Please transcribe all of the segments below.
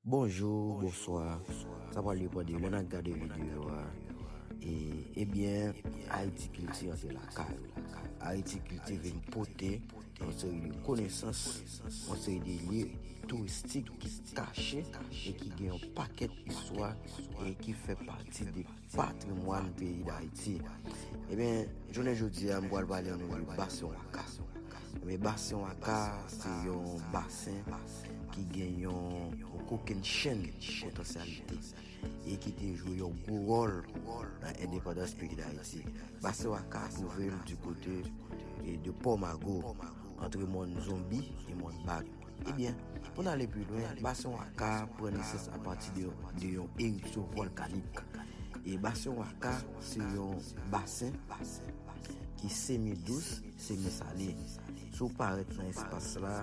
Bonjour bonswa sa pral depan de lè nap gade video a e ebyen ayiti kilti an se lakay ou ayiti kilti vin pote yon seri de konesans yon seri de lye touristik ki kache e ki gen yon pakèt istwa e ki fè pati de Patrimwàn peyi Dayiti. Ebyen, jounen jodi a m pral pale nou de Basen Waka. Ebyen, Basen Waka se yon basen ki gen yon kokenn chenn potansyalite e ki te jwe yon gwo wòl nan endepandans peyi Dayiti. Basen Waka twouve l di kote de Pò Mago, antre mòn Zonbi e mòn Bag. Ebyen, pou n ale pi lwen, Basen Waka pran nesans apati de yon eripsyon vòlkanik. E Basen Waka se yon basen ki semi dous, semi sale. Si w parèt nan espas la,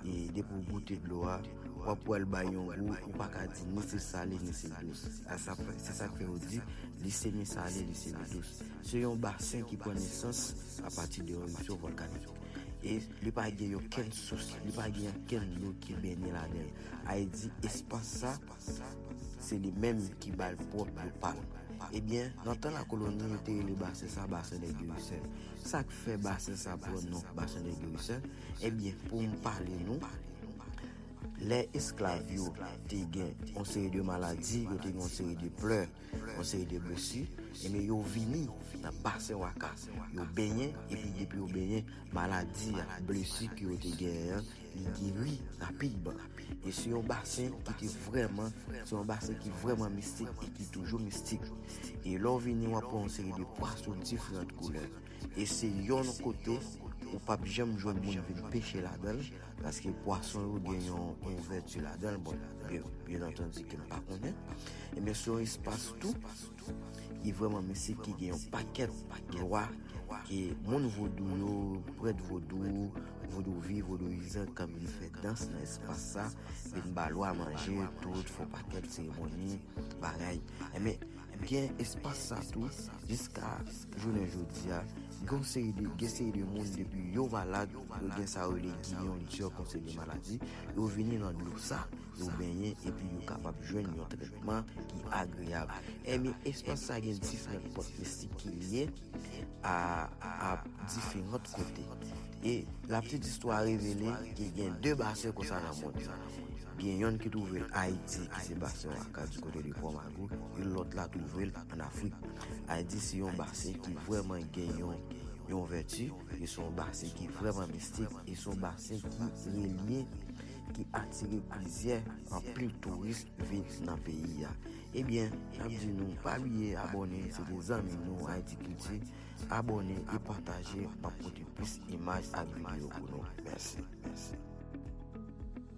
e depi w goute dlo a, w ap wè l bay yon gou ou pa ka di ni se sale ni se dous. Se sa k fè yo di li semi sale, li semi dous. Se yon basen ki pran nesans apati de yon eripsyon vòlkanik. e li pa gen yon kenn sous, li pa gen yon kenn dlo ki benyen ladan l. A e di espas sa, se li menm ki ba l pwòp dlo pa l. E byen, nan tan lakoloni, yo te rele basen sa basen dè Guerusel. Sa k fè basen sa pran non basen dè Guerusel? E byen, pou m pale nou, lè esklav yo te gen yon seri de maladi, yo te gen yon seri de plè, yon seri de blesi, enben yo vini nan basen waka, yo benyen epi depi yo benyen, maladi a, blesi ke yo te genyen an, li geri rapidman. E se yon basen ki te vrèman, se yon basen ki vrèman mistik e ki toujou mistik. E lè w vini w ap wè yon seri de pwason diferant koulè. e se yonn kote ou pap janm jwenn moun vin peche ladanl paske pwason yo gen yon ouvèti ladanl bon byen antandi kem pa konnen ebyen se yon espas tou ki vreman mistik ki gen yon pakèt lwa ke moun vodou yo prèt vodou vodouvi vodouyizan kan vin fè dans nan espas sa vin ba lwa manje tout fon pakèt seremoni bagay ebyen Gen espas sa tou, jiska jounen jodi a, gen yon seri de, gen seri de moun depi yo malad, yo gen sa yo rele guyon diò kon seri de maladi, yo vini nan dlo sa, yo benyen epi yo kapab jwenn yon trètman ki agreyab. Enben, espas sa gen diferan pòt mistik ki lye. a ap dife lòt kote. E laptit istwa revele ke gen de basen konsa nan mond lan. Gen yonn ki twouve l Ayiti ki se basen Waka di kote de Pò Mago e lòt la twouve l an Afrik. Ayiti se yon basen ki vrèman gen yon vèti e se yon basen ki vrèman mistik e se yon basen ki relye, ki atire plizyè anpil touris vin nan peyi a. Ebyen nap di nou pa bliye abòne se de zanmi nou Haiti culture abòne e pataje map pote plis imaj ak video pou nou mèsi.